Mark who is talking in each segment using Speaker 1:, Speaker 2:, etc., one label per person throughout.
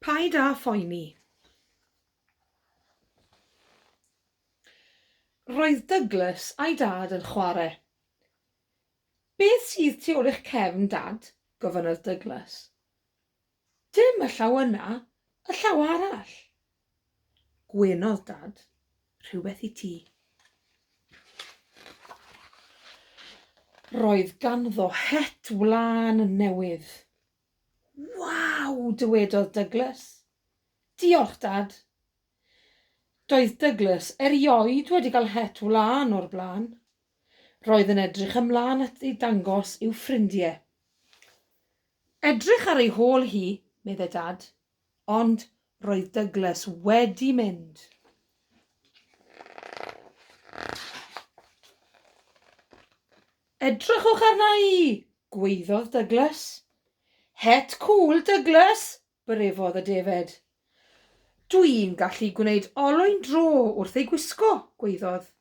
Speaker 1: Paid â phoeni. Roedd Douglas a'i dad yn chwarae. Beth sydd tu ôl i'ch cefn, Dad? gofynnodd Douglas. Dim y llaw yna, y llaw arall, Gwenodd Dad rhywbeth i ti. Roedd ganddo het wlân newydd. Waw! dywedodd Douglas. Diolch, Dad. Doedd Douglas erioed wedi cael het wlân o'r blaen. Roedd yn edrych ymlaen at ei dangos i'w ffrindiau. Edrych ar ei hôl hi, medde Dad, Ond roedd Douglas wedi mynd. Edrychwch arna i! gwaeddodd Douglas. Het cŵl, Douglas! byrefodd y defaid. Dwi'n gallu gwneud olwyn dro wrth ei gwisgo, gwaeddodd.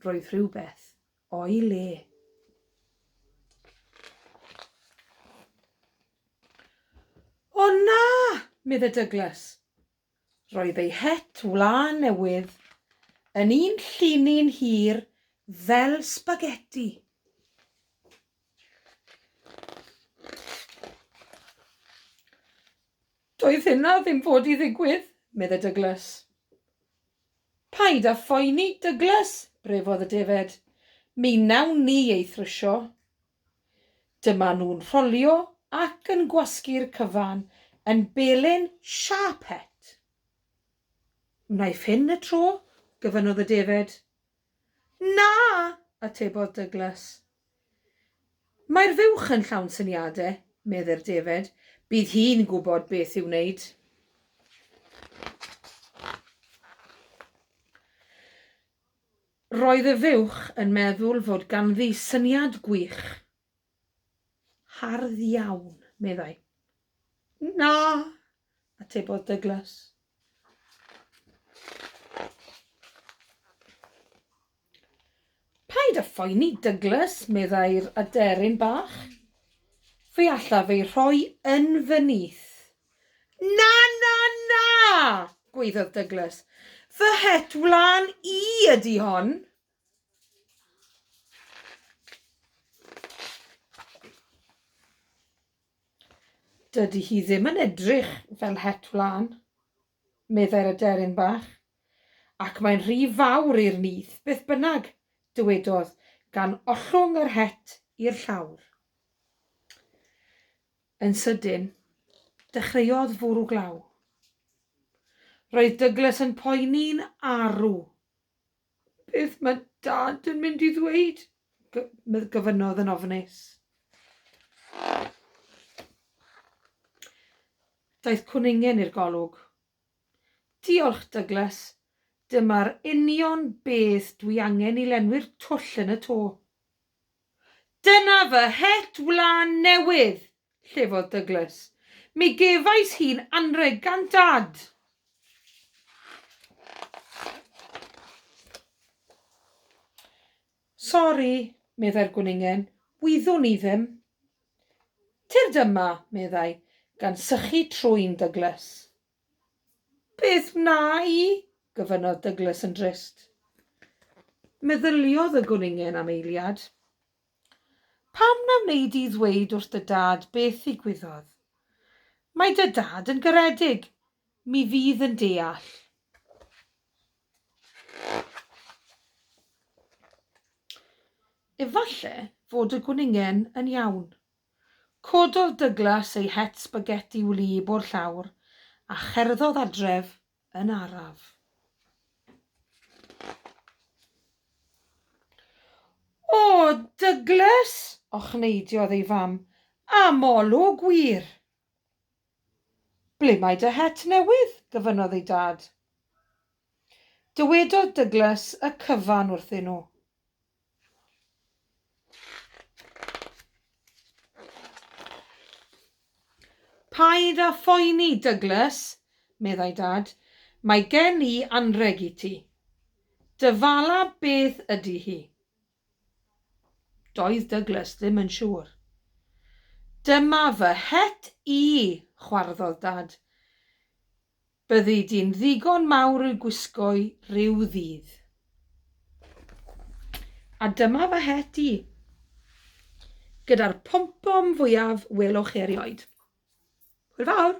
Speaker 1: Roedd rhywbeth o'i le. O na! medde Douglas. Roedd ei het wlân newydd yn un llinyn hir fel sbageti. Doedd hynna ddim fod i ddigwydd, medde Douglas. Paid â phoeni, Douglas, brefodd y defaid. Mi wnawn ni ei thrwsio. Dyma nhw'n rholio ac yn gwasgu'r cyfan yn belyn siâp het. Wnaiff hyn y tro, gyfynodd y defaid. Na! atebodd Douglas. Mae'r fuwch yn llawn syniade, medde'r defaid. Bydd hi'n gwybod beth i'w wneud. Roedd y fuwch yn meddwl fod ganddi syniad gwych. Hardd iawn, meddai. Na! atebodd Douglas. Paid â phoeni, Douglas, meddai'r aderyn bach. Fe allaf ei rhoi yn fy nyth. Na, na, na! gweiddodd Douglas. Fy het wlân i ydy hon. Dydy hi ddim yn edrych fel het wlân, meddai'r aderyn bach, ac mae'n rhy fawr i'r nyth, beth bynnag, dywedodd, gan ollwng yr het i'r llawr. Yn sydyn, dechreuodd fwrw glaw. Roedd Douglas yn poeni'n arw. Beth mae Dad yn mynd i ddweud? gofynnodd yn ofnus. Daeth cwningen i'r golwg. Diolch, Douglas. Dyma'r union beth dwi angen i lenwi'r twll yn y to. Dyna fy het wlân newydd! llefodd Douglas. Mi gefais hi'n anrheg gan Dad! Sori, meddai'r gwningen, wyddwn i ddim. Tyrd yma, meddai, gan sychu trwyn Douglas. Beth wna i? gofynnodd Douglas yn drist. Meddyliodd y gwningen am eiliad. Pam na wneud di ddweud wrth dy dad beth ddigwyddodd? Mae dy dad yn garedig. Mi fydd yn deall. Efallai fod y gwningen yn iawn. Cododd Douglas ei het sbageti wlyb o'r llawr a cherddodd adref yn araf. O, Douglas! ochneidiodd ei fam. Am olwg wir! Ble mae dy het newydd? gyfynnodd ei dad. Dywedodd Douglas y cyfan wrthyn nhw. Paid â phoeni, Douglas, meddai Dad, mae gen i anrheg i ti. Dy fala beth ydy hi? Doedd Douglas ddim yn siŵr. Dyma fy het i, chwarddodd Dad. Byddi di'n ddigon mawr i'w gwisgo'i ryw ddydd. A dyma fy het i, gyda'r pompom fwyaf welwch chi erioed. Hwyl fawr!